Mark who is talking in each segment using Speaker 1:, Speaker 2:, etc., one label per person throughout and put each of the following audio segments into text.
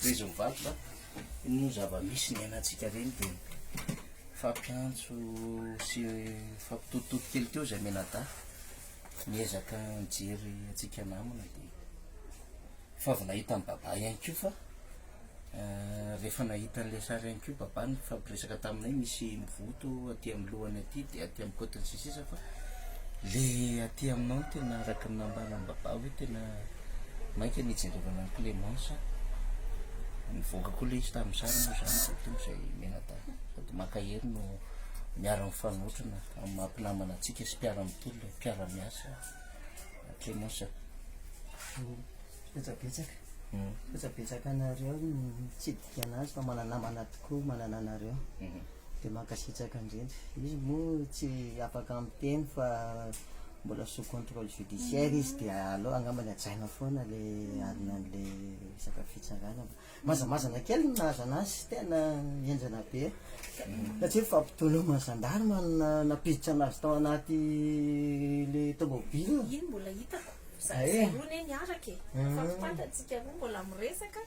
Speaker 1: Tohizo mivarotra, io moa zava-misy niainantsika reny dia nifampiantso sy nifampitotitoto kely teo izay mianadahy, niezaka nijery antsika namana dia efa avy nahita an'i Babà ihany koa fa rehefa nahita an'ilay sary ihany koa Babà nifampiresaka taminay, misy mivoto aty amin'ny lohany aty dia aty amin'ny côte-ny sisiny. sisa fa le aty aminao no tena araka ny nambaran'i Babah hoe tena maika ny hijerevana an'i Clémence a! Nivoaka koa le izy tamin'ny sary moa zany dia tonga izay mianadahy sady mankahery no miara mifanotrona amin'ny maha mpinamana antsika sy mpiara mitolona e! Mpiara miasa Clémence a!
Speaker 2: Betsabetsaka, betsabetsaka anareo no nitsidy Ianazy fa mananamana tokoa manana anareo de mankasitraka indrindra. Izy moa tsy afaka miteny fa mbola sous contrôle judiciaire izy dia aleo angamba ny hajaina foana le arina anle resaka fitsarana. Mazamazana kely no nahazo anazy tena henjana be satria fampitoloma gendarme no nampiditra anazy tao anaty le tomobile. Iny mbola hitako,
Speaker 3: zahay roa anie niaraka e, fa tsy fantatsika roa mbola miresaka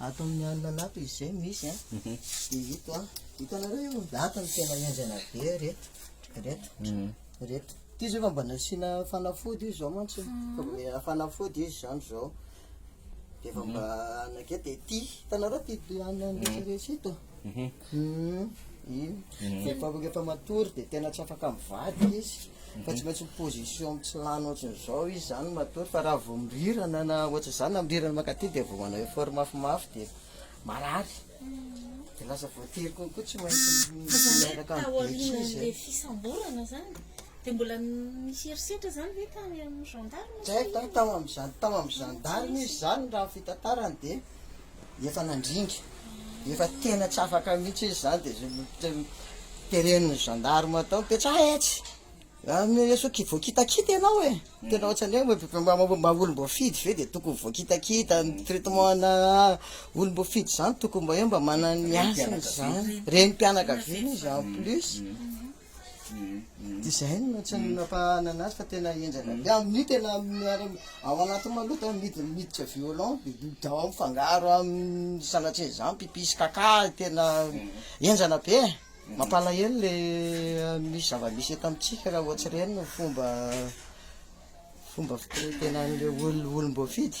Speaker 2: Ato amin'ny alina anato izy izay no misy a. Dia ito a. Hitanareo io? Ato no tena henjana be ireto. Ireto. Ireto. Ity izao efa mba nasiana fanafody io izao mantsy. Efa mba nasiana fanafody izy izany izao. Dia efa mba nakety. Dia ity, hitanareo ity alina rehetra rehetra ito? Vehivavy rehefa matory dia tena tsy afaka mivady izy fa tsy maintsy mi-position tsy lany ohatran'izao izy izany matory fa raha vao mirirana na ohatr'izany na mirirana mankaty dia vao manao effort mafimafy dia marary dia lasa voatery kokoa tsy maintsy miaraka amin'ny be izy dia mbola nisy
Speaker 3: herisetra izany ve tany amin'ny
Speaker 2: gendarme? Tao amin'ny gendarme izy izany raha ny fitantarany dia. Efa nandringa, efa tena tsy afaka mihitsy izy izany dia teren'ny gendarme tao, mipetraha etsy, sao ki voakitakita ianao e, tena ohatran'ny hoe mba mba olom-boafidy ve dia tokony voakitakita, ny traitement ana olom-boafidy izany tokony mba hoe mba manana ny hasiny izany, renim-pianakaviana izy en plus. Design no tsy nampahana anazy fa tena henjana be. Amin'io tena ao anatin'ny maloto miditra violon, miditra ao mifangaro amin'ny sanatria izany, mpipi sy kaka, tena henjana be e. Mampalahelo le misy zava-misy eto amintsika raha vao tsy reny ny fomba fomba fitenitenan'ireo olom-boafidy.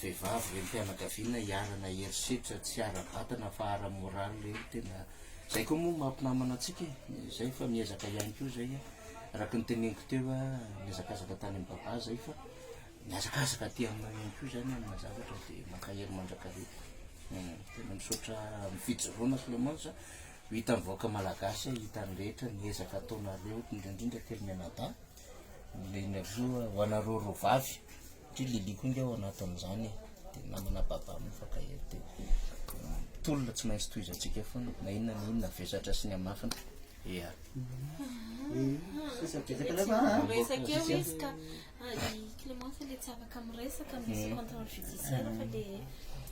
Speaker 1: vehivavy reny fianakaviana iharana herisetra tsy ara-batana fa ara-moraly reny tena zay koa moa mampinamana antsika e zay fa miezaka ihany koa zay a araka ny teneniko teo a miezakazaka tany amin'ny baba zay fa miazakazaka aty aminao ihany koa zany amina zavatra dia mankahery mandrakariva tena misaotra amin'ny fijoroana Clémence ho hitan'ny vahoaka malagasy hita ny rehetra ny ezaka ataonareo indrindra indrindra kely mianadahy Milina koa ho anareo roa vavy satria Lily koa nge ao anatin'izany e dia namana Baba mifankahery dia tolona tsy maintsy tohizantsika foana na inona na inona vesatra sy ny hamafiny ea Resaka
Speaker 3: eo izy ka. Clément fa le tsy afaka miresaka misy contrôle judiciaire fa le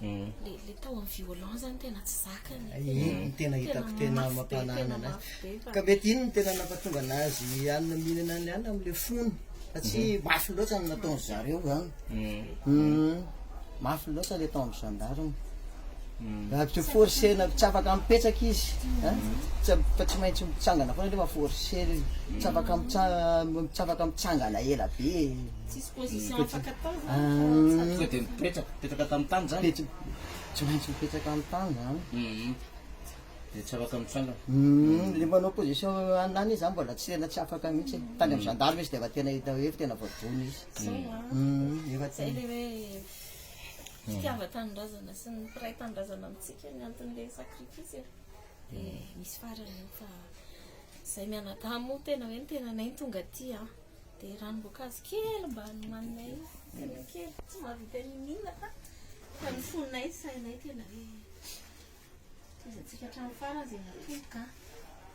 Speaker 3: le le tao amin'ny violent zany tena tsy zakany ny tena
Speaker 2: hitako tena mampanana anazy ka mety iny ny tena nampatonga anazy anina mihinana ny anina amin'le fony fa tsy mafy loatra ny nataon'izareo zany mafy loatra le tao amin'ny gendarme Tsy forcena, tsy afaka mipetraka izy fa tsy maintsy mitsangana foana nefa forcena izy, tsy afaka mitsangana, tsy afaka mitsangana ela be e. Tsisy
Speaker 3: position afaka atao zany fa. Sao dia
Speaker 1: mipetraka, mipetraka tam tany zany? Tsy maintsy
Speaker 2: mipetraka am tany
Speaker 1: zany. Dia tsy afaka mitsangana. Le manao
Speaker 2: position an'any izy zany mbola tsy tena tsy afaka mihitsy e. Tany am gendarme izy dia efa tena hita hoe efa tena voadona izy. Zao an. Zay le hoe.
Speaker 3: fitiavan-tanindrazana sy ny mpiray tanindrazana amintsika ny anton'ilay sacrifice e. Dia misy farany eo fa izay mianadahy moa tena hoe ny tenanay no tonga aty an. Dia ranom-boankazo kely mba nomaninay io, tena kely, tsy mahavita n'inon'inona fa fa ny fonay, ny sainay tena hoe tohiza antsika hatramin'ny farany izay natomboka an.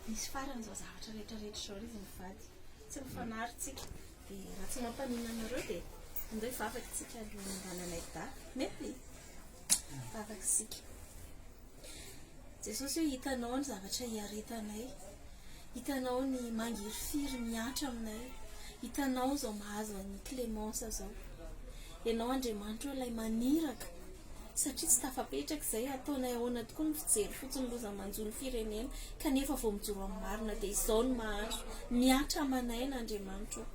Speaker 3: Misy farany izao zavatra rehetra rehetra izao ry izy mivady, tsy mifanary tsika. Dia raha tsy mampaninona anareo dia andao hivavaka isika alohan'ny hananay daty. Mety? Vavaka isika. Jesosy eo hitanao ny zavatra hiaretanay. Hitanao ny mangirifiry mihatra aminay. Hitanao izao mahazo an'i Clémence izao. Ianao Andriamanitra eo ilay maniraka satria tsy tafapetraka izay, hataonay ahoana tokoa ny fijery fotsiny loza manjo ny firenena, kanefa vao mijoro amin'ny marina dia izao no mahazo, mihatra aman'aina Andriamanitra o!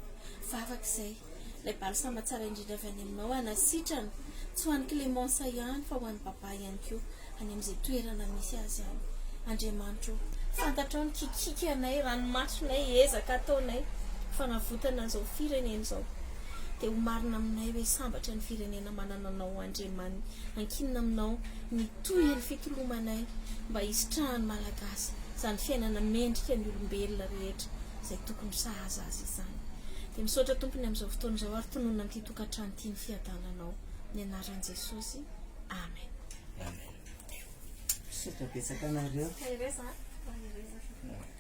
Speaker 3: Vavaka izay, ilay balsama tsara indrindra avy any aminao hanasitrana, tsy ho an'i Clémence ihany fa ho an'i Baba ihany koa, any amin'izay toerana misy azy any. Andriamanitra o! Fantatrao ny kikikanay, ranomasonay, ezaka ataonay, fanavotana an'izao firenena izao. Dia ho marina aminay hoe sambatra ny firenena manana anao Andriaman ankinina aminao ny tohi ny fitolomanay mba hisitrahan'ny Malagasy izany fiainana mendrika ny olombelona rehetra izay tokony sahaza azy izany. Dia misaotra Tompony amin'izao fotoana izao ary tononina amin'ity tokantrano ity ny fiadananao ny anaran'i Jesosy. Amen. Amen. Misaotra betsaka anareo.
Speaker 2: Mahereza a. Mahereza.